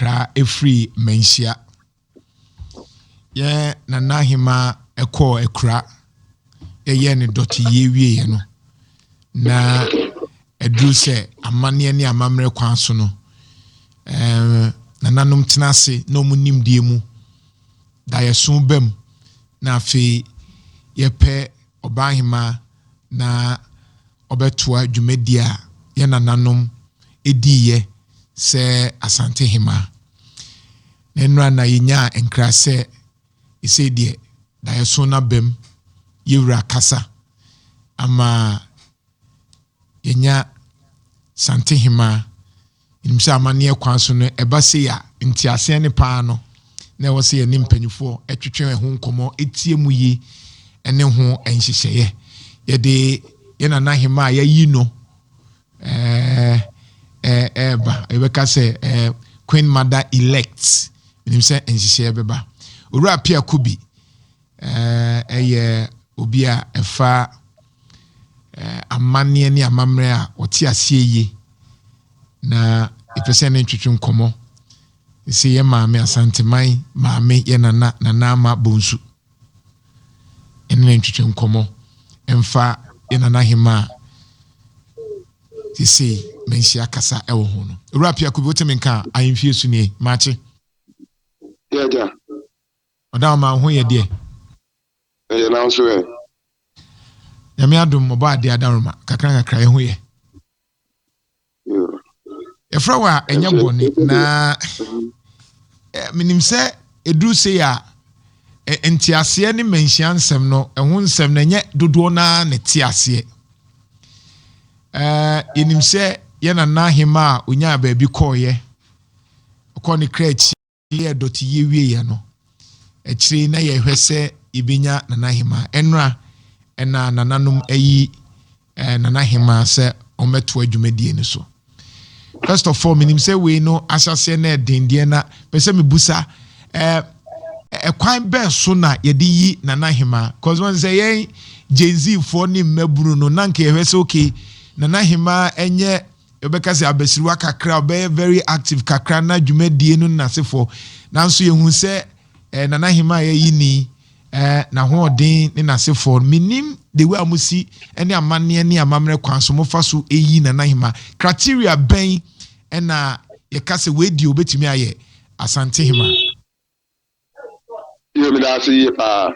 Tra firi Manhyia. Yɛ Nana Hemaa kɔɔ akura. Yɛyɛɛ ne dɔteyie wieeɛ no, na aduru sɛ amanneɛ ne amammerɛ kwan so no, eh, nananom tena ase na wɔn nimdeɛ mu da yɛso bam na afei yɛpɛ Ɔbaahemaa na ɔbɛtoa dwumadie a yɛn nananom diiɛ sɛ Asante hemaa. Na nnora na yɛnyaa nkra sɛ sesei deɛ daeɛso no abam, yɛwura kasa ama yɛnya Santehema. Yɛnim sɛ amanneɛ kwan so no, ɛba sei a, nteaseɛ ne paa no, na ɛwɔ sɛ yɛne mpanimfoɔ twetwe ɛho nkɔmmɔ, ɛtie mu yi, ɛne ho nhyehyɛeɛ. Yɛde yɛn nana hema a yɛayi no ɛɛba, yɛbɛka sɛ Queen Mother Elect, menim sɛ nhyehyɛeɛ bɛba. Owura Pia Kubi, Ɛyɛ obi a ɛfa amanneɛ ne amammerɛ a ɔte aseɛ yie na yɛpɛ sɛ ne ntwetwe nkɔmmɔ sɛ yɛ maame asanteman maame yɛ nana nana ama bonsu ɛne ne ntwetwe nkɔmmɔ ɛmfa yɛ nana hema a sesei manhyia kasa ɛwɔ ho no awura piako bi wotemi nka ahemfie su nie maakye yɛagya Ɔda ɔman ho yɛ deɛ. Ɛyɛ nanso ɛ. Nyame adom ɔbɔ adeɛ adaworoma kakra kakra ɛho yɛ. Yɛfrɛ wɔ a ɛnyɛ bɔne na menim sɛ ɛduru sei a nteaseɛ ne manhyia nsɛm no ɛho nsɛm no ɛnyɛ dodoɔ no ara na te aseɛ. Yɛnim sɛ yɛ nana hema a ɔnyaa baabi kɔɔyɛ ɔkɔɔ ne kra akyi. yɛɛ dɔteyɛ wieeɛ no, akyire yi na yɛhwɛ sɛ yɛbɛnya Nana Hemaa. Ɛnora, ɛna nananom ayi eh, Nana Hemaa sɛ ɔmmɛtoa dwumadie no so. First of all, menim sɛ wei no ahyɛseɛ na ɛden deɛ na pɛ sɛ mebusa eh, ɛkwan bɛn so na yɛde yi Nana Hemaa? Cause wɔn sɛ yɛn Gen Z foɔ ne mmabunu no, na nka yɛhwɛ sɛ okay, Nana Hemaa ɛnyɛ Yɛbɛka sɛ abasiriwa kakra a ɔbɛyɛ very active kakra na dwumadie no nnasefoɔ nanso yɛhu sɛ eh, Nana Ahemaa yɛ yi ni eh, n'ahoɔden ne n'asefoɔ no menim the way a mosi ne amanneɛ ne amammerɛ kwan so mofa so ɛyi Nana Ahemaa criteria bɛn ɛna yɛka sɛ wei deɛ obɛtumi ayɛ Asante Hemaa. Yo, meda ase yie paa.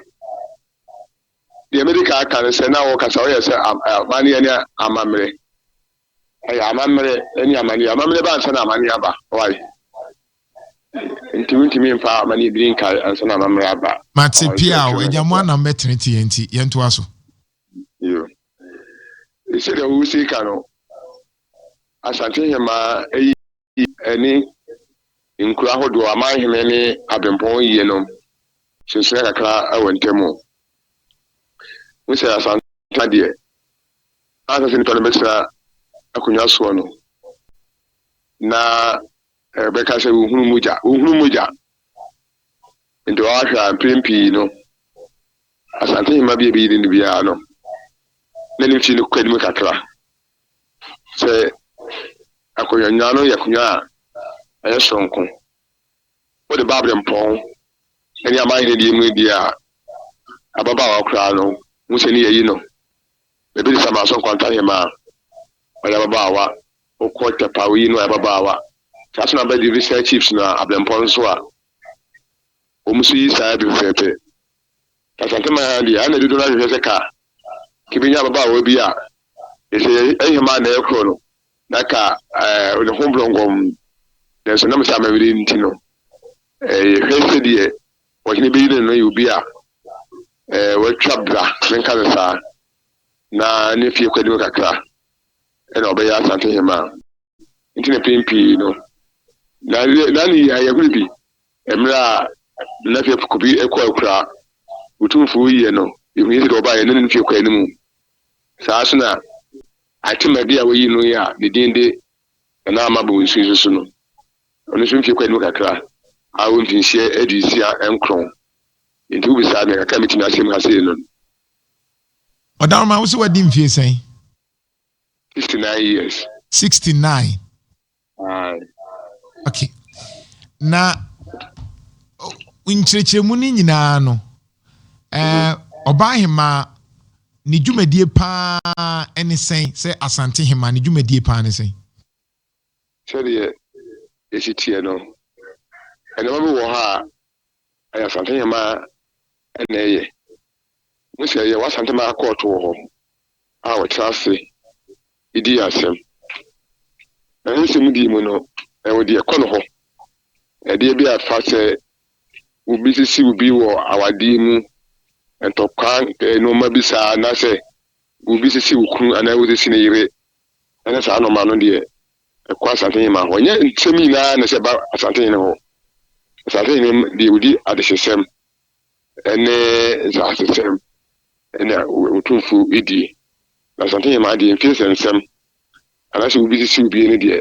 Deɛ mede kan aka no sɛ na wɔkasa wɔyɛ sɛ amanneɛ ne amammerɛ. Ɛyɛ amammerɛ ne amanneɛ. Amammerɛ ba ansa na amanneɛ aba. Why? Nti wontumi mfa amanneɛ biri nkae ansa na amammerɛ aba. Mate pia o, agya mo anam bɛtenete yɛn nti yɛntoa so. Yo, sɛdeɛ wosi ka no, Asante Hemaa ayi. ne nkuro ahodoɔ, amanhene ne abempɔn yiyenom sunsuna kakra wɔ ntam o. Hu sɛ Asantehene deɛ, ansa sɛ nnipa no bɛtena akonnwa soɔ no, na ɛbɛka sɛ wohunu mogya, wohunu mogya. Nti wɔahwɛ a mprɛn pii no, Asantehema bi a ɛbɛyi ne biara no, na ne mfie no kɔ anim kakra. Sɛ akonnwa no yɛ akonnwa a ɛyɛ soronko, wode ba abirɛmpɔn ne amanhene die mu di a, ababaawa koraa no hu sɛ ne yɛayi no. Baabi te sɛ Amanso Nkwanta Hemmaa, ɔyɛ ababaawa. Wokɔ Tɛpa, woyi no, ɔyɛ ababaawa. Saa nso na Bɛdwe Viscera Chiefs no a, abirɛmpɔn nso a, wɔn nso yi saa ara bi pɛpɛɛpɛ. Asaseman ha deɛ, ha na dodoɔ no ara hwehwɛ sɛ ka kɛbɛnya ababaawa bi a sɛ ɛhemaa na ɛkorɔ no, na ka ɛɛ ne ho brɔngɔm. Nanso nam sɛ amammerɛ nti no, ɛɛ yɛhwɛ sɛ deɛ ɔhene bɛyi no no yɛ obi a ɛɛ watwa bra, menka no saa, na ne fie kɔ anim kakra, ɛna ɔbɛyɛ Asante hemaa. nti na mpɛn pii no na na ne yɛ ayɛhoro bi mmerɛ a na fie kobi kɔ akura otumfoɔ yie no ehu yɛ sɛ deɛ ɔbaeɛ na ne fie kɔɛ no mu saa so na atemade a wɔyi no yɛ a ne din de na ama bɔ nsu nso so no ɔno nso mfie kɔɛ no mu kakra a wɔ mfinhyia adi nsia nkron nti wobisaa me kakra metumi asɛm ha sei no Ɔdaroma wo sɛ wadi mfie sɛn? Sixty nine years. Sixty nine. Aye. Okay. Na nkyerɛkyerɛmu no nyinaa no, ɔbaa eh, hemaa ne dwumadie paa ne sɛn sɛ Asante hemaa ne dwumadie paa ne sɛn? Sɛdeɛ ɛsi teɛ no, nneɛma bi wɔ hɔ a, ayasantenyɛma na ɛyɛ. Hu sɛ yɛwɔ Asantema akɔɔto wɔ hɔ a wɔtra ase di yɛn asɛm. Na ne nsɛmdie mu no, ɛwɔ deɛ ɛkɔ no hɔ. Ɛdeɛ bi a ɛfa sɛ obi sisi obi wɔ awadeɛ mu, ntɔkwa nneɛma bi saa, anaasɛ obi sisi okunu anaa obi sisi ne yere ne saa nnoɔma no deɛ ɛkɔ Asantehema hɔ. Ɛnyɛ nsɛm nyinaa na ɛsɛ ɛba Asantehene hɔ. Asantehene deɛ ɔdi adehyesɛm ne nsaasesɛm na Otumfuo die. Na Asantehema deɛ mfie sɛ nsɛm anaasɛ obi sisi obie no deɛ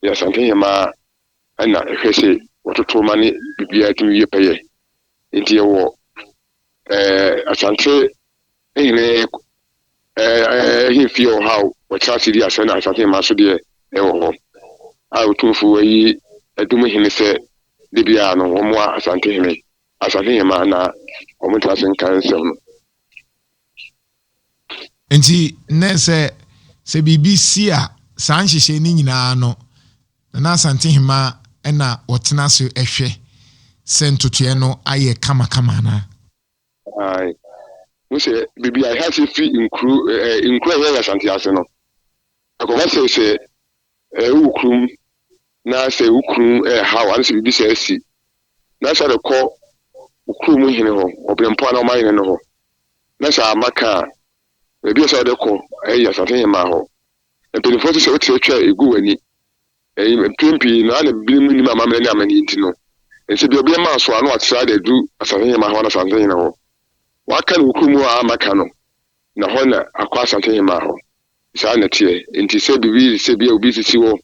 yɛ Asantehema na ɛhwɛ sɛ wɔtoto ma ne biribiara tumi yɛ pɛyɛ. Nti yɛwɔ ɛɛ Asante Ne nyinaa yɛ fie wɔ hɔ a wɔtra ase di asɛm, na asase mmaa nso deɛ ɛwɔ hɔ a Otumfoɔ ayi Adum hene sɛ da biara no wɔmmoa Asante hene, Asante hemmaa na wɔntra ase nka nsɛm no. Enti nnɛ sɛ sɛ biribi si a, saa nhyehyɛe no nyinaa no, Nana Asante hemmaa na wɔtena ase hwɛ sɛ ntotoeɛ no ayɛ kamakama anaa. Ae. Wohu sɛ baabi a Ehaseɛ firi nkuro ɛ ɛ nkuro a ɛyɛ Asante ase no, ɛkɔba sɛ sɛ ɛ wowɔ kurom na sɛ wo kunu reha wo anaasɛ biribi saa si na sɛ wode kɔ wo kurom hene hɔ, Ɔberempɔn anaa ɔmanhene no hɔ na sɛ amma ka a, baabi a ɛsɛ sɛ wode kɔ yɛ Asantehemmaa hɔ. Mpanimfoɔ se sɛ wote atwa gu w'ani. Mpɛn pii no, ana binom nnim amammerɛ ne amanneɛ nti no, ɛnsɛ bi a obi mma so a na wɔatra de adu Asante Hemman hɔ anaa Asante Hene hɔ. Wɔaka no wɔ kurom hɔ a amma ka no, na hɔ na akɔ Asante Hemman hɔ. Saa na ɛteɛ. Enti sɛ biribi sɛ bi a obi sisi hɔ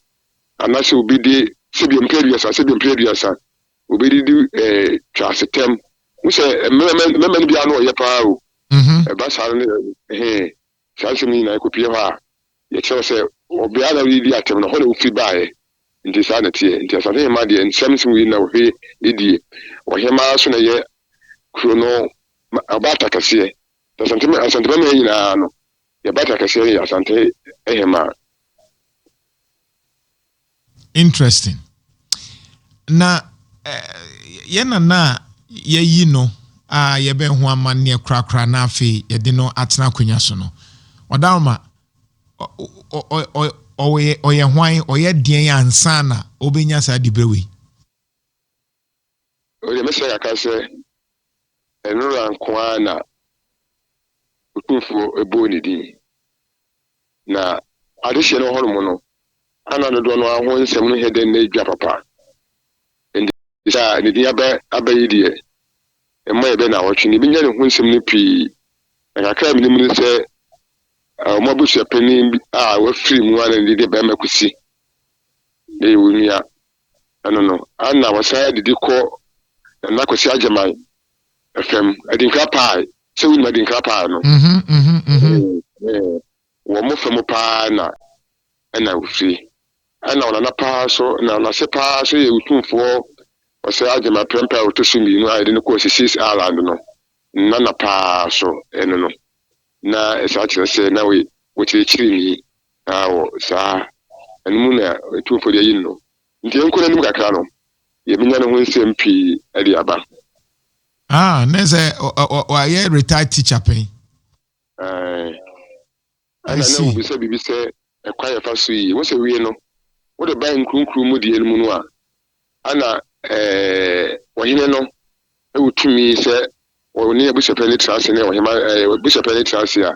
anaasɛ obi de sɛ bi a mpere aduasa, sɛ bi a mpere aduasa, obi de di eh, twa asetɛm. Wo sɛ mmarima no biara no ɔyɛ paa o. Ɛba saa no, ɛhe. Saa nsɛm yi nyinaa, ɛkɔpue hɔ a, yɛkyerɛw sɛ, wɔ beae a na wɔredi atɛm no, hɔ na wofi baeɛ. Enti saa na ɛteɛ. Enti asase hemmaa deɛ, nsɛm nsi wɔ yi na ɔhwɛ yi die. Ɔhemmaa nso na ɛyɛ kuro no ɔbaata kɛseɛ. Nti Asante ma, Asante Bɛmɛn nyinaa no, deɛ baata kɛseɛ no yɛ Asante hemmaa. Interesting. Na yɛn nana a yɛayi no a yɛbɛn ho amanneɛ korakora na afei yɛde no atena akonnwa so no, Ɔdaroma, ɔyɛ hwan, ɔyɛ deɛn ansa na ɔbɛnya saa diberɛ wei? Emi deɛ mɛsrɛ kakra sɛ nwura nko ara na Otumfoɔ bɔɔ ne din, na adehyeɛ no hɔ nom no ana dodoɔ no ara ho nsɛm no nyɛ dɛ na ɛdwa papa, ɛnde sɛ ne din aba aba yi deɛ ɛmma yɛbɛ nnawɔtwe na yɛbɛnya ne ho nsɛm no pii, na kakra a menim ne sɛ wɔn abusuapanin bi a wafiri mu ara na ne din de Bɛmɛ Kwesi, meyɛ wo nua. ano no, ana wɔsan adidi kɔ Nana Kwasi Agyeman fam, Adinkra Pie, sɛ wonim Adinkra Pie no? Wɔn fa mu paa na ɛna ofiri. Ɛna ɔnana paa nso, na ɔnase paa nso yɛ Otumfoɔ Ɔsɛe Agyeman Prempeh a ɔtɔ so mmienu a yɛde no kɔɔ Sissis Island no nana paa nso, ɛno no na ɛsan kyerɛ sɛ na ɔyɛ ɔkyerɛkyerɛni. Na wɔ saa no mu na Otumfoɔ de ayi no. Nti yɛnkɔ n'anim kakra no, yɛbɛnya ne ho nsɛm pii de aba. Ah, ne sɛ wayɛ retired teacher pɛn. Ae. Ɛna na wobisa biribi sɛ ɛkwan a yɛfa so yi. Wo sɛ wie no, wode ba nkurunkuru mu deɛ no mu no a, ɛna eh, ɔhene no wɔ tumi sɛ ɔne abusuapɛn no tra ase ne ɔhema eh, abusuapɛn no tra ase a,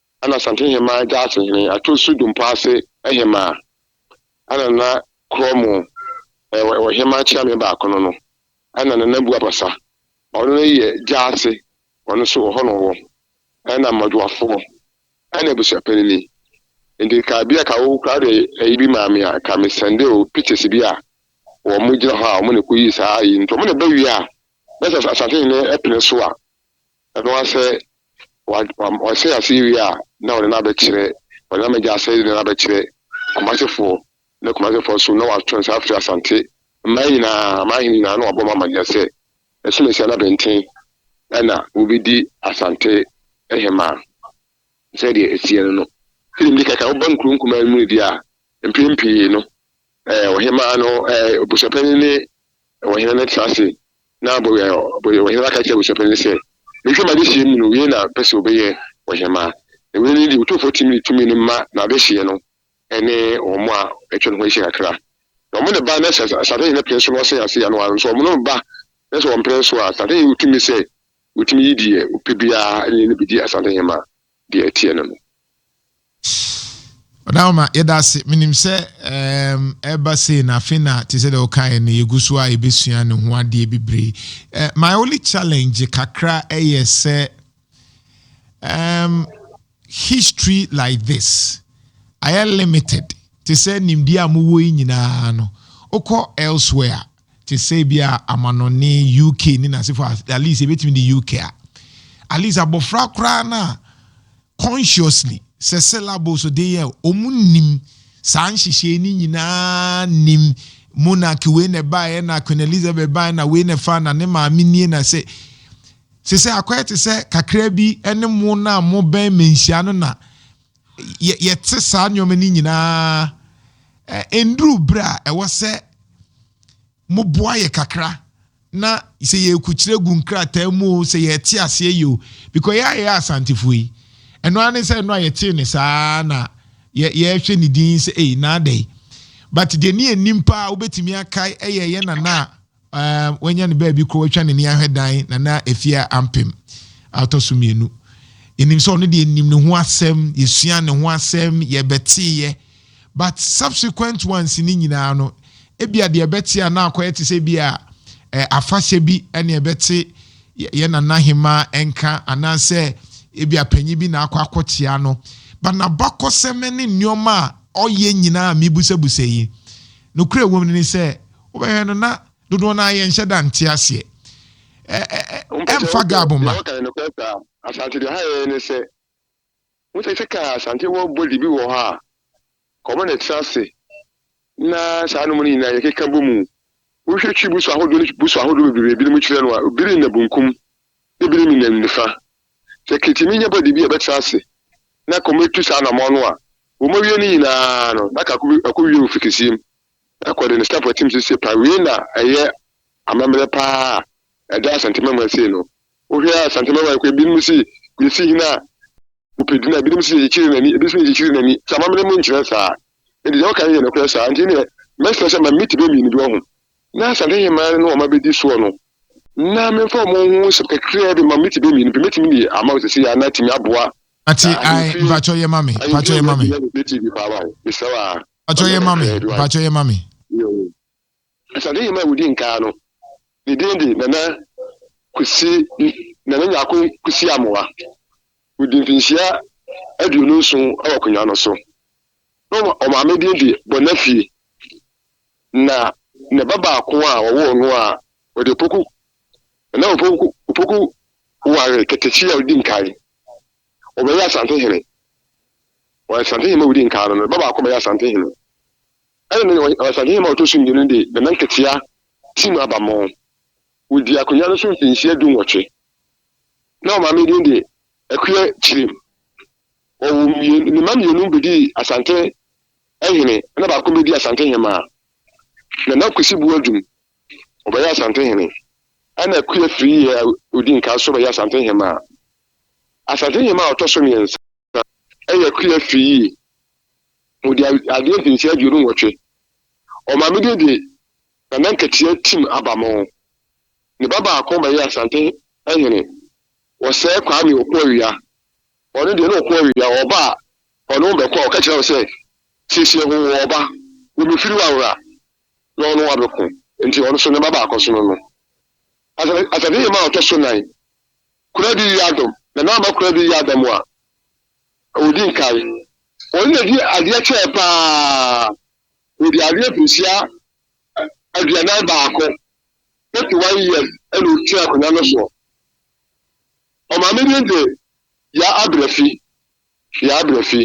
Ana Asante Hemaa gya ase hene ato su dompo ase hemaa ana na korɔ mo wɔ wɔ hemaa kyeame baako no no ana Nana Bu Abasa ɔno no yɛ gya ase ɔno nso wɔ hɔ na ɔwɔ ana mmɔdwoafoɔ ana abusuapanini nti ka bia ka wo koraa de ayi bi maa me a ka me sɛnde o pictures bi a wɔ mo gyina hɔ a wɔn na ɛkɔ yii saa ayi nti wɔn na ɛba wie a na sɛ Asante hene pene so a ɛno asɛ Wahyɛ aseɛ wie a, na ɔde no abɛkyerɛ, ɔde no ama agya sɛ de no abɛkyerɛ Kumasefoɔ. Na Kumasefoɔ nso, na wɔatwe nsa afiri Asante mmaa nyinaa, mmaa ahene nyinaa, na wɔabɔ wɔn amanneɛ sɛ, Asinasia ne Abɛnten na wɔbɛdi Asante hemaa. Sɛdeɛ ɛteɛ no no, sɛdeɛ medi ka kan, woba nkuro nkumaa mu no deɛ a, mpɛn pii no, ɔhemaa no, abusuapanin ne ɔhene no tra ase Na ɔhemmaa ka kyerɛɛ abusuapanyin no sɛ, Mehwɛ m'adehyeɛ mu no, wei na mepɛ sɛ wɔbɛyɛ ɔhemmaa. Na wei ne deɛ otumfoɔ tumi de tumi no ma n'adehyeɛ no ne wɔn a atwa ne ho ahyia kakra. Na wɔn ne ba, na sɛ asase hene pene so na ɔsɛe ase a, na wɔanso wɔn no ba, na sɛ wɔmpene so a, asase hene wɔ tumi sɛ ɔtumi yi deɛ ɔpɛ biara ne no bɛdi asase hemmaa. deɛ ɛteɛ no no. Ɔda Homa, yɛda ase. Menim sɛ ɛreba sei no, afei na te sɛ deɛ wokaeɛ no, yɛgu so a yɛbɛsua ne ho adeɛ bebree. My only challenge kakra yɛ sɛ um, history like this ayɛ limited te sɛ nimdeɛ a mowɔ yi nyinaa no wokɔ elsewhere te sɛ ebia amanɔnne UK ne n'asefo a, at least ebetumi de UK a, at least abɔfra koraa no a consciously sɛ syllables de yɛ wɔn nim saa nhyehyɛe no nyinaa nim monarch wei na ɛbaeɛ na Queen Elizabeth baeɛ na wei na ɛfa na ne maame nie na sɛ sɛ sɛ akɔyɛ te sɛ kakra bi ne mo no a mobɛn manhyia no na yɛ yɛte saa nneɛma no nyinaa ɛ nduru bere a ɛwɔ sɛ moboa yɛ kakra na sɛ yɛkukyerɛ gu nkrataa mu o sɛ yɛte aseɛ yɛ o because yɛ a yɛyɛ asantefoɔ yi ɛno ara ne sɛ ɛno a yɛtee ne saa na yɛhwɛ ne din sɛ ei naadɛ yi but deɛ ne yɛnim paa wobɛtumi akae ɛyɛ yɛ nana a Um, wanya ne baabi kɔ, watwa n'ani ahwɛ dan, na na efie a ampem atɔ so mmienu. Yɛnim sɛ ɔno deɛ nim ne ho asɛm, yɛsua ne ho asɛm, yɛbɛteeɛ. But subsequent ones ne nyinaa no, ebia deɛ ɛbɛte a na akɔyɛ te sɛ bi a eh, afahyɛ bi ɛne ɛbɛte yɛ nana hema nka anaasɛ ebi apanyin bi na akɔ akɔkyea no ba n'abakɔsɛm ne nneɛma a ɔyɛ nyinaa a mebusabusa yi Nokorɛ a ɛwom no ne sɛ, wobɛhwɛ no na dodoɔ no ara yɛnhyɛ da nte aseɛ. Ɛ ɛ ɛ ɛmfa Gab mma. Wɔka no nokorɛ saa. Asante deɛ ɔha yɛn ne sɛ, wohu sɛ sɛ kaa Asante wɔ body bi wɔ hɔ a, kɔma no ɛtra ase na saa nom no nyinaa yɛkeka bɔ mu. Wohwɛ Twi boso ahodoɔ ne boso ahodoɔ bebrebe a ebinom kyerɛ no a, ebi ne nna bunkum na ebi ne nna nifa. Sɛ Kitimi nya bɔde bi a ɛbɛtra ase na kɔmɛtu saa anammɔn no a, wɔawie ne nyinaa no, na ka ɛkɔwie wɔ Fikisiem kɔ de ne staff atim so sie pa wei na ɛyɛ amammerɛ pa ara a ɛda Asante Mawaa sei no. Wohwɛ Asante Mawaa koraa binom se yɛsi hene a ɔpɛ din a binom se yɛkyekyere n'ani, ebi se yɛkyekyere n'ani. Sɛ amammerɛ mu nkyerɛ saa. Enti deɛ woka no yɛ nokorɛ saa. Enti neɛ mɛsrɛ sɛ ma me tiba mmienu bi, woahu. na asante hemaa no na wɔn abɛdi soɔ no, na memfa wɔn ho nsɛm kakraa bi ma mete bɛ mmienu pɛ, mɛtumi de ama wo sɛsei a na atumi aboa Ate ae, mpakyɛ yɛ ma me, mpakyɛ yɛ ma me. Mpakyɛ yɛ ma me, mpakyɛ yɛ ma me. Asante hemaa a wɔdi nkaa no, ne din de Nana Kwesi, Nana Nyarko Kwesi Amoah. Wɔdi mfinhyia aduonu nson wɔ akonnwa no so. Na ɔmaame din de Bonafie, na ne ba baako a ɔwoo no a ɔde Opoku, na na Opoku, Opoku ware Ketekye a odi nkan. Ɔbɛyɛ Asante hene. Ɔyɛ Asante hene a odi nkan no, ne ba baako bɛyɛ Asante hene. Ɛna ne ɔyɛ Asante hene a ɔtɔ so mmienu de Nana Nketeya Tim Abamo. Ɔdii akonnwa no so mfinhyia dunwɔtwe. Na ɔmaame din de Akua Kyirim. Wɔwoo mmienu, ne mma mmienu bɛdii Asante hene ɛna baako bɛdii Asante hemaa. Nana Kwesi Boadum, ɔbɛyɛɛ Asante hene ɛna Akua Firiye a ɔdi nkan nso bɛyɛɛ Asante hemaa. Asante hemaa a ɔtɔ so mmiɛnsa yɛ Akua Firiye. Ɔdi adeɛ mfinhyia aduonu nwɔtwe. Ɔmaamedie de Nana Nkatia Tim Abamoo. Ne ba baako bɛyɛɛ Asante hene, Ɔsɛɛ Kwame Ɔko Awia. Ɔno deɛ, na ɔko awie, na ɔba a ɔne wo bɛko a, ɔka kyerɛ wo sɛ, Siesie ho, wo ɔba, wo mefiri wo awera, na ɔne wo abɛko. Enti ɔno nso, ne mma baakɔ sono no. Asafehema a ɔtɔ so nan, Kuradi yi Adam, na na ama Kuradi yi Adam a ɔdi nkae. Ɔno na ɔdi adeɛ kyɛɛ pa ara, ɔdi adeɛ mfirihyia aduanan baako, 31 years, na ɔtena akonnwa no soɔ. Ɔmaa me din de Yaa Abrafi, Yaa Abrafi,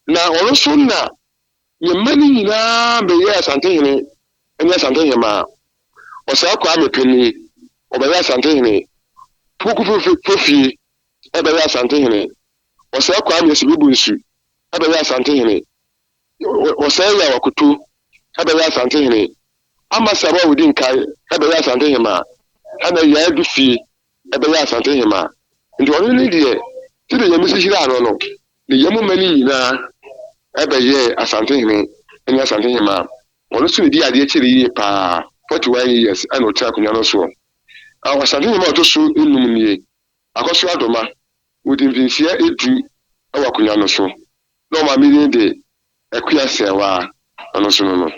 na ɔno so na me mma no nyinaa bɛyɛɛ Asantehene ne Asantehemaa. Ɔsaa Kwame Peni, ɔbɛyɛɛ Asantehene. Poku Fofie bɛyɛɛ Asantehene. Ɔsaa Kwame Asibibunsu bɛyɛɛ Asantehene. Ɔsaa Yaw Akoto bɛyɛɛ Asantehene. Amasabo a ɔdi nkan bɛyɛɛ Asantehemaa, ɛna Yaa Adufie bɛyɛ Asante hemaa, nti ɔno ne deɛ sɛdeɛ Nyame si hyiraa noɔ no, ne yam mma no nyinaa bɛyɛɛ Asante hene ne Asante hemaa. Ɔno nso na ɔdii adeɛ kyɛɛ no yie paa, 41 years na ɔtenaa akonwa no soɔ. Asante hemaa a ɔtɔ so nnum nie, Akɔso Adoma, ɔdii mfinhyia du wɔ akonwa no so, na wɔn maame din de Akua Sɛɛwaa, ɔno nso no no.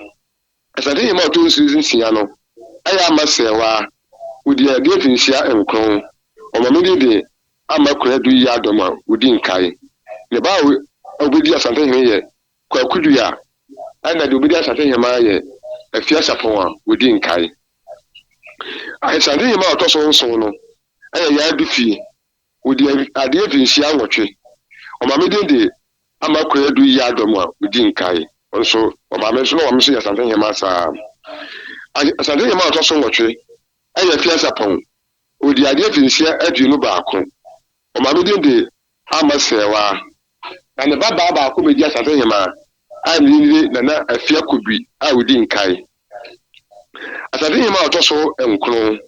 Asase hɛmba a ɔtɔ nsu dze tsia no ayɛ ama sɛɛwaa, wodua aduan mfinhyia nkrɔn, wɔma me dede ama Kura Du yɛ adɔm a wodi nkae. Ne ba a obedi Asante hene yɛ Kwaku Du a nna dze obedi Asante hɛmba yɛ Afiasapɔn a wodi nkae. Asante hɛmba a ɔtɔ so nson no ayɛ Yaa Du fie. Wodi adeɛ mfinhyia nwɔtwe. Wɔma me din de Ama Kwadu Yaa Dɔm a wodi nkae. Wɔn nso wɔma me nso na wɔn nso yɛ Asante Hemmaa saa. Asante Hemmaa a ɔtɔ so nwɔtwe yɛ Afiasapɔn. Odi adeɛ mfinhyia aduonu baako. Wɔma me din de Ama Sɛɛwaa. Na ne ba baa baako bɛdi Asante Hemmaa a ne din de Nana Afiakobri a wodi nkae. Asante Hemmaa a ɔtɔ so nkron.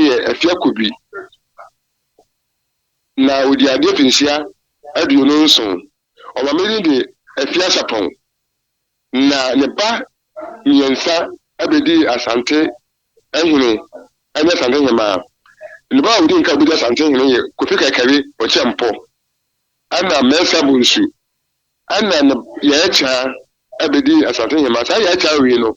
yɛ afiako bi, na ɔdii adeɛ mfenhyia aduonu nson. Ɔma me din de Afiasapɔn. Na ne ba mmiɛnsa bɛdii Asante hene ne Asante hemaa. Ne ba a ɔdi nka ɔbɛdi Asante hene yɛ Kofi Kaikari Okyɛmpɔ, ɛna Mɛnsa Bonsu, ɛna ne Yaɛkyaa bɛdii Asante hemaa. Saa Yaɛkyaa wei no,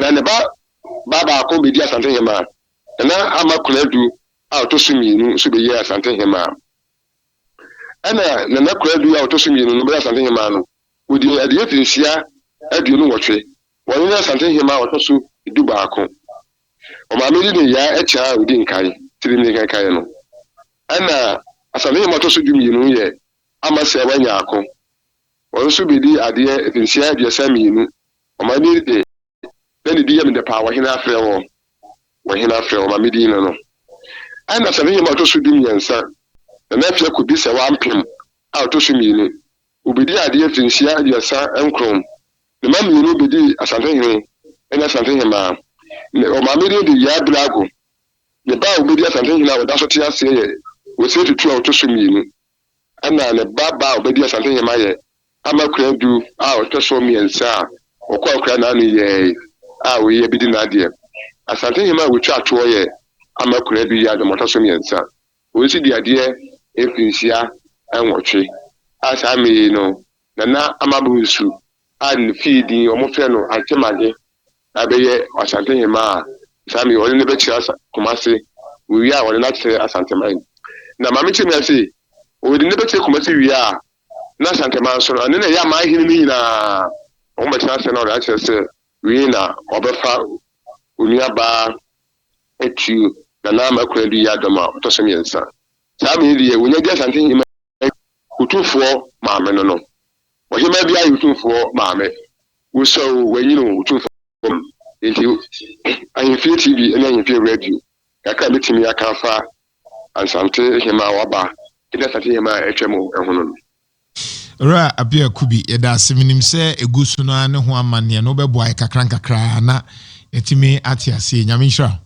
Na ne ba baa baako bedii Asante Hemaa, na na ama Konadu a ɔtɔ so mmienu nso beyɛ Asante Hemaa. Ɛna Nana Konadu a ɔtɔ so mmienu no bɛyɛ Asante Hemaa no, wɔdii adeɛ mfirinhyia aduonu nwɔtwe. Wɔno ne Asante Hemaa ɔtɔ so du baako. Ɔmaame de ne yaa akya a ɔdi nkan, tirim ne nkankaeɛ no. Ɛna Asante Hemaa ɔtɔ so du mmienu no yɛ Amasɛe Wanyaako. Wɔn nso bedii adeɛ mfenhyia aduasa mmienu. Wɔn ani de, na ne din yɛ me dɛ paa wɔ hene afrɛ wɔn, wɔ hene afrɛ wɔn ma me din no no. Ɛnna Safehem a ɔtɔ so dumiɛnsa, na n'afe akɔdi sɛ wampem a ɔtɔ so mmienu, ɔbedii adeɛ mfenhyia aduasa nkron. Ne mma mmienu bedii asantehene ne asantehemmaa. Ne wɔn maame din de Yaabilago. Ne ba a ɔbedi asantehene a ɔda so te aseɛ yɛ Osetutu a ɔtɔ so mmienu. Ɛnna ne ba baa a obedii asantehene ayɛ ama akuraa du a ɔtɔ so mmiɛnsa a wɔkɔɔ akuraa nnan no yɛe a wei abedi n'adeɛ. Asantehene a wotwaa toɔ yɛ ama akuraa du yɛɛ adom a ɔtɔ so mmiɛnsa. Wei nso dii adeɛ mfirinhyia nwɔtwe a saa mmere yi no, Nana Amabru Nsu a ne fie din wɔfrɛ no Antemagye a ɛbɛyɛ Ɔsantehema a saa mmerɛ yi ɔde no bɛkyerɛ Asa Kumase, wɔwie a ɔde no akyerɛ Asanteman. Na ma menkyerɛ nyinaa sei, ɔde no bɛkyerɛ Kumase wie a na Asanteman nso no ɛno na ɛyɛ aman hene no nyinaa wɔn bɛtena ase na ɔde akyerɛ sɛ wei na ɔbɛfa onua baa atuo Nana Makurandu Yiadɔm a ɔtɔ so mmiɛnsa. Saa mmerɛ yi deɛ wɔnya di Asantehema yi. Otumfoɔ Maame no no, ɔhemmaa biara yɛ Otumfoɔ Maame. Wosua oo, wɔanyin oo, Otumfoɔ Maame. Enti, Ahemfie TV ne Ahemfie Radio, kakra a mɛtumi aka afa Asante Hemmaa a waba ne Asante Hemmaa a atwam ho no. Owura Appiah Kubi, yɛda ase. Menim sɛ ɛgu so no ara ne ho amanneɛ no, wobɛboa yɛn kakra nkakra na yɛatumi ate aseɛ. Nyame nhyira wo.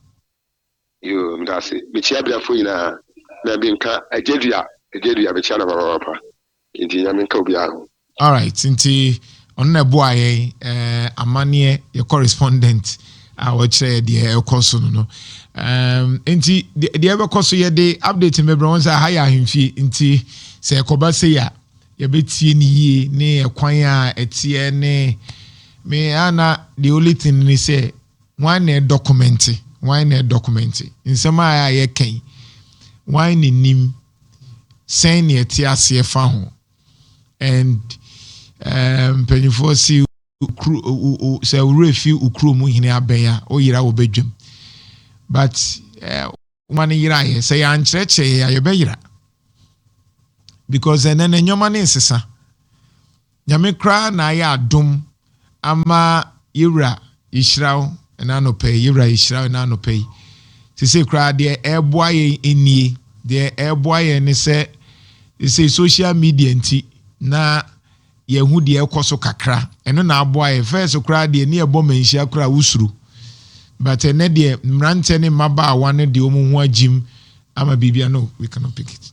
Yoo medase mekyia abiafoɔ nyinaa na bi nka agyadua agyadua mekyia no papapapa nti nyame nka obiara ho. Alright nti ɔno na ɛboa yɛn eh, amaneɛ yɛ correspondent a wɔkyerɛ yɛ deɛ ɛkɔ so no no um, nti deɛ ɛbɛkɔ so yɛde update no bɛbrɛ wɔn sɛ aha yɛ ahemfie nti sɛ ɛkɔba sei a yɛbɛtie no yie ne ɛkwan a ɛteɛ ne me ana the only thing ne sɛ Hwan na ɛdɔkɔmɛnte? Hwan na ɛdɔkɔmɛnte? Nsɛm a ɛa yɛka yi, hwan na nim? Sɛn na yɛte aseɛ fa ho? And eh, mpanimfoɔ se okuro, o, o, o, sɛ wo werɛ fi wo kurom hene abɛn a, wo yera wɔ badwam. But eh, Nwoma no yera yɛ. Sɛ yɛankyerɛkyerɛ yɛ a, yɛbɛyera. Because ɛnɛ no nneɛma no nsesa. Nyame koraa na ayɛ adom ama yɛwura yɛhyira wo ɛna anɔpa yi, yɛwura yɛhyira wo ɛna anɔpa yi. Sese koraa deɛ ɛreboa yɛn nnie, deɛ ɛreboa yɛn ne sɛ sese social media nti na Yɛahu deɛ ɛrekɔ so kakra, ɛno na aboa yɛn. First koraa deɛ, ne yɛbɔ mmanhyia koraa a, wosuro. But ɛnnɛ deɛ, mmeranteɛ ne mmabaawa no de wɔn ho agyim ama biribiara. No, we cannot pick it.